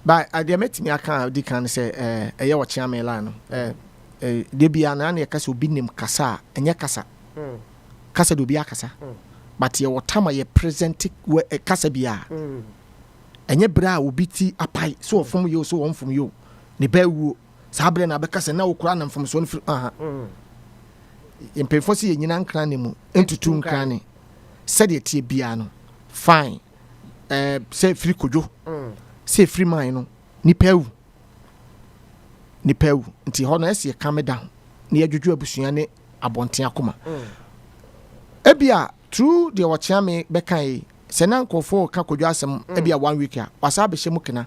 By a deɛ mɛtumi aka a ɔdi kan ne sɛ ɛyɛ wɔ Kyeame line no deɛ biara no ana yɛka sɛ obi nim kasa a ɛnyɛ kasa kasa deɛ obi akasa but yɛwɔ tama yɛ present kasa biara ɛnyɛ berɛ a obi ti apae so ɔfom yɛ o so ɔmfom yɛ o ne bɛ wuo saa berɛ na abɛka sɛ na wokora na mfomsoɔ no firi aha mpanyinfoɔ sɛ yɛnyina nkra ne mu ntutu nkra ne sɛdeɛ tie biara no fine ɛɛ sɛ firi kodwo sɛ firi man no nipa awu nipa awu nti hɔ no ɛsi ɛka me da na yɛdwodwo abusua ne abɔnten akoma ebia tru deɛ wɔkyea me bɛka yi sɛ na nkurɔfoɔ ka kodwo asɛm mm. ebia one week a wasa abɛhyɛ mu kena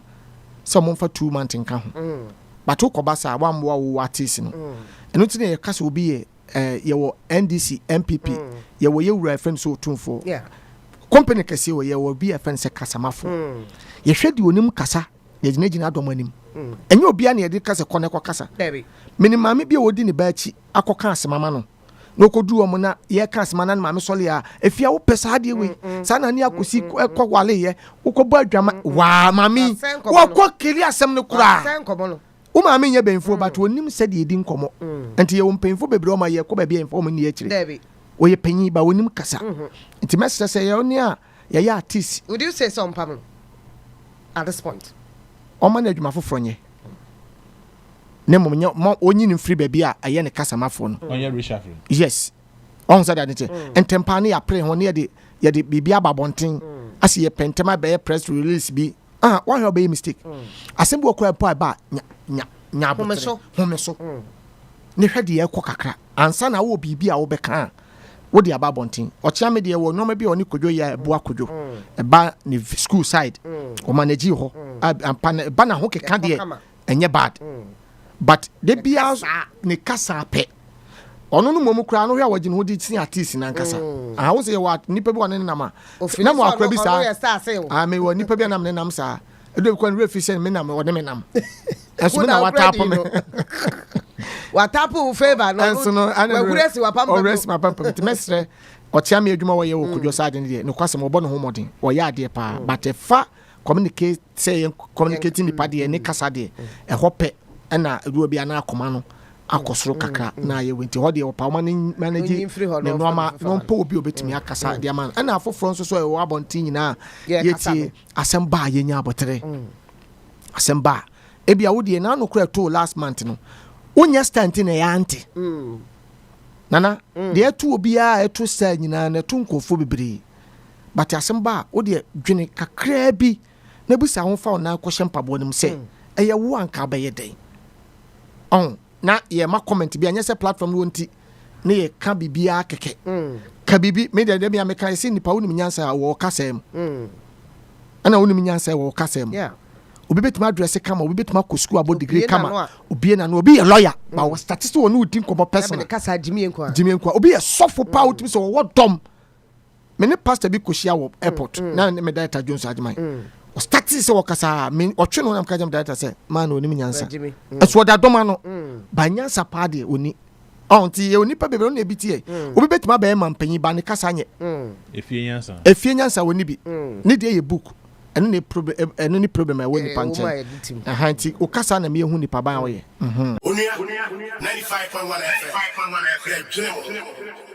sɛ wɔn mfa two months nka ho mm. bato kɔba saa wɔn amoa wo ateesi no mm. ɛno ti na yɛka sɛ obi yɛ eh, yɛwɔ ndc npp mm. yɛwɔ yɛ wura ɛfɛn sɛ otumfoɔ yeah. company kɛseɛ wɔ yɛwɔ bi ɛfɛn sɛ kasamafoɔ mm. yɛhwɛ deɛ onim kasa na yɛgyinagyina adɔm anim mm. ɛnyɛ obiara na yɛde kasa kɔ na ɛkɔ kasa mene maame bi a wɔdi ne ba akyi akɔka asɛma ma no na ɔkɔduru ɔmo na yɛka asɛma na ne maame sɔle a ɛfie a wopɛ saa adeɛ wei mm, mm. saa na ne akɔsi mm, kɔ waleyɛ wokɔbɔ adwama waa maame wakɔ keli asɛm no koraa Wo maame nyɛ bɛnfuɔ but ɔnim sɛdeɛ yɛdi nkɔmmɔ nti yɛwɔ mpanyinfoɔ bebree a wɔma yɛkɔ baabi a yɛmfa wɔn nni akyire. Ɔyɛ panyin but ɔnim kasa nti mɛsrɛ sɛ yɛ ne a yɛyɛ artist Would you say sɛ ɔmpa no at this point? ɔmma no adwuma foforɔ nyɛ na mmom nyɛ ma ɔnyi no mfiri baabi a ɛyɛ ne kasamafoɔ no. Ɔnyɛ reshuffling? Yes. Wahu sɛdeɛ ade teɛ? Ntɛmpaa no yɛapere ho na yɛde yɛde biribi aba abɔnten ase yɛpɛ ntɛm abɛyɛ press release bi. ah wahwɛ ɔbɛyɛ mistake mm. asɛm bi wɔ kora mpo a ɛba nya nya nya abotere home so mm. ne hwɛ deɛ ɛkɔ kakra ansa na wowɔ biribi a wobɛka a wode aba abɔnten ɔkyea me deɛ wɔ nneɛma bi a ɔne kodwo yɛ ɛboa kodwo mm. ɛba ne school side ɔma n'agyi hɔ ampa na ɛba na ho keka deɛ ɛnyɛ bad mm. but da biara ne kasa pɛ ɔno no mmom koraa no hwɛ a wɔgye ne ho de sin artist no ankasa mm. aha wo sɛ yɛwɔ nnipa bi wɔ ne nenam a na mo akora bi saa ah, mewɔ nnipa bi anam nenam saa ɛdɔ bi kɔ ne werɛ fi sɛ menam ɔne menam ɛso me na watapo me watapo wo favor no ɛnso no wawura si wapampam ɔwura si wapampam nti mɛsrɛ ɔkyea me adwuma wɔyɛ wɔ kodwo saa ade no deɛ nokwasɛm ɔbɔ ne ho mmɔden ɔyɛ adeɛ paa mm. but ɛfa communicate sɛ yɛn communicate nipa deɛ ne kasa deɛ ɛhɔ pɛ ɛna adwuma bi anaa akoma no akɔ soro kakra mm. na ayɛ wenti hɔ deɛ wɔpa wɔn ani manage ne nneɛma na wɔmpɛ obi a obetumi akasa mm. deɛ ama no ɛna afoforɔ nso so ɛwɔ abɔnten nyinaa yɛtie asɛm ba a yɛnya abɔtere mm. asɛm ba a ebi a wodeɛ n'ano kora to last month no wonyɛ stand na ɛyɛ ante nana deɛ ɛto obiara ɛto sɛ nyinaa na ɛto nkurɔfoɔ bebree. but asɛm ba a, wo deɛ dwene kakraa bi na bisa ho fa wo nan kɔhyɛ mpaboa no mu sɛ hmm. ɛyɛ wo anka wobɛyɛ dɛn ɔn na yɛma comment bi anyɛ sɛ platform no wɔ nti ne yɛ ka biribiara kɛkɛ hmm. ka biribi me deɛ deɛ mea meka ɛsɛ nipa wonim nyansa a wɔ kasɛɛ mu hmm. ɛna wonim nyansa wɔ kasɛɛ mu obi bɛtumi adrɛse kama obi bɛtumi akɔ sukuu abɔ digiri kama obie na no obi yɛ lɔya ba wɔ statisi wɔ ne wodi nkɔmmɔ pɛsona gyimie nkoa obi yɛ sɔfo paa wotumi sɛ wɔwɔ dɔm me ne pastor bi kɔhyia wɔ airport mm, mm. na ne me director jones agyeman mm. ɔstate sɛ wɔkasaa ɔtwe no nam ka gyam director sɛ maa na ɔnim nyansa mm. ɛso ɔda dɔma no mm. ba nyansa paa deɛ ɔni ɔnti yɛ onipa bebree ɔna ebi tiɛ mm. obi bɛtumi abɛyɛ ma mpanyin ba ne kasa nyɛ mm. efie nyansa efie nyansa wɔ ne bi mm. ne deɛ yɛ book ɛno ne problem ɛno ne problem ɛwɔ nipa nkyɛn ɛhan ti o kasa na mi ehu nipa ban ɔyɛ. Mhm. onua ninety five point one fm ɛdwene wɔn.